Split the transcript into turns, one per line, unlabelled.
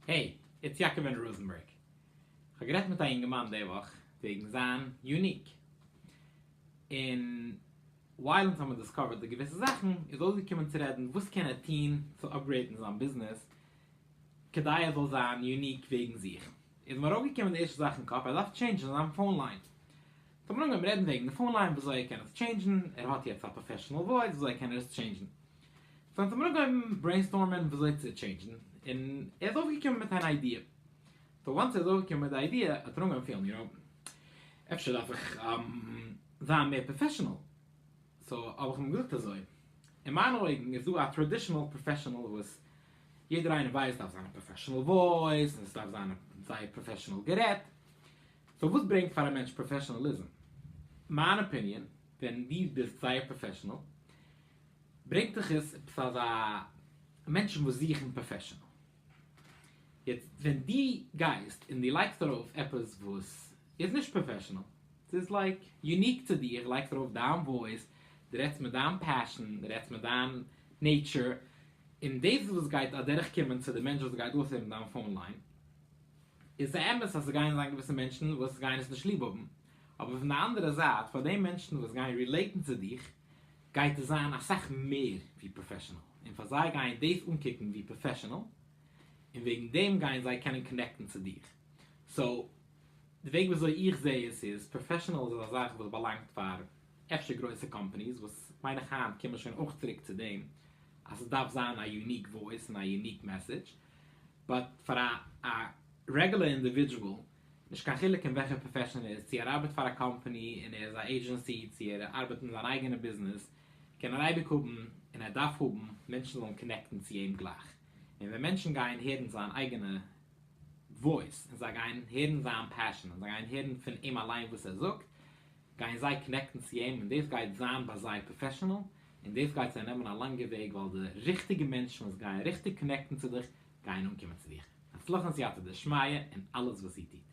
העי, איטס יאקאבען ראזענבערג. כ'האב גערעדט מיט א יונגערמאן די וואך וועגן זיין יוניק. און ווייל אונז האבן דיסקאווערט די געוויסע זאכן, איז אויסגעקומען צו רעדן וואס קען ער טון צו אפגרעיטן זיין ביזנעס כדי ער זאל זיין יוניק וועגן זיך. איז אים ארויפגעקומען די ערשטע זאך אין קאפ, ער דארף טשעינדזשן זיין פאון ליין. סאו מיר האבן אנגעהויבן רעדן וועגן די פאון ליין, וויאזוי ער קען עס טשעינדזשן, ער האט יעצט א פראפעשענעל וואויס, וויאזוי קען ער עס טשעינדזשן. זענען זיי אנגעהויבן ברעינסטארמען וויאזוי צו טשעינדזשן, און ער איז אויפגעקומען מיט אן איידיע. סאו וואנס ער איז אויפגעקומען מיט די איידיע האט ער אנגעהויבן פילן איר אויף. אפשר דארף איך זיין מער פראפעשענעל, סאו האב איך אים געזאגט אזוי, אין מיינע אויגן איז דא א טראדישענעל פראפעשענעל וואס יעדער איינער ווייסט דארף זיין א פראפעשענעל וואויס און עס דארף זיין זייער פראפעשענעל גערעדט, סאו וואס ברענגט פאר א מענטש פראפעשענעליזם? מיין אפיניען, ווען דו ביסט זייער פראפעשענעל ברענגט דאך עס עפעס אזא מענטשן וואס זוכן פראפעשענעל, יעצט ווען דו גייסט און דו לייגסט ארויף עפעס וואס איז נישט פראפעשענעל, ס'איז לייק יוניק צו דיר, לייגסט ארויף דיין וואויס, דו רעדסט מיט דיין פעשען, דו רעדסט מיט דיין נעיטשער, און דאס איז וואס גייט אדורך קומען צו די מענטש וואס גייט אויסהערן דיין פאון ליין, איז ס'אמת אז ס'גייען זיין געוויסע מענטשן וואס גייען עס נישט ליב האבן, אבער פון די אנדערע זייט פאר די מענטשן וואס גייען רילעיטן צו דיך, גייט עס זיין אסאך מער ווי פראפעשענעל, און פאר זיי גייען דאס אנקוקן ווי פראפעשענעל, און וועגן דעם גייען זיי קענען קאנעקטן צו דיר. סאו, די וועג ווי אזוי איך זע עס איז, פראפעשענעל איז א זאך וואס באלאנגט פאר אפשר גרויסע קאמפאניס, וואס מיין איך היינט קומט מען שוין אויך צוריק צו דעם אז עס דארף זיין א יוניק וואויס און א יוניק מעסעדזש, באט פאר א רעגולער אינדיווידזשועל נישט קיין חילוק אין וועלכע פראפעשאן ער איז, צו ער ארבעט פאר א קאמפאני און ער איז א עידזשענסי, צו ער ארבעט אין זיין אייגענע ביזנעס, קען ער אייביג האבן, און ער דארף האבן, מענטשן זאלן קאנעקטן צו אים גלייך. און ווען מענטשן גייען הערן זיין אייגענע וואויס, און זיי גייען הערן זיין פעשאן, און זיי גייען הערן פון אים אליין וואס ער זאגט, גייען זיי קאנעקטן צו אים, און דאס גייט זיין ביי זיי פראפעשאנעל, און דאס גייט זיי נעמען א לאנגע וועג, ווייל די ריכטיגע מענטשן וואס גייען ריכטיג קאנעקטן צו דיך, גייען אנקומען צו דיך הצלחה און סייעתא דשמיא אין אלעס וואס איר טוט.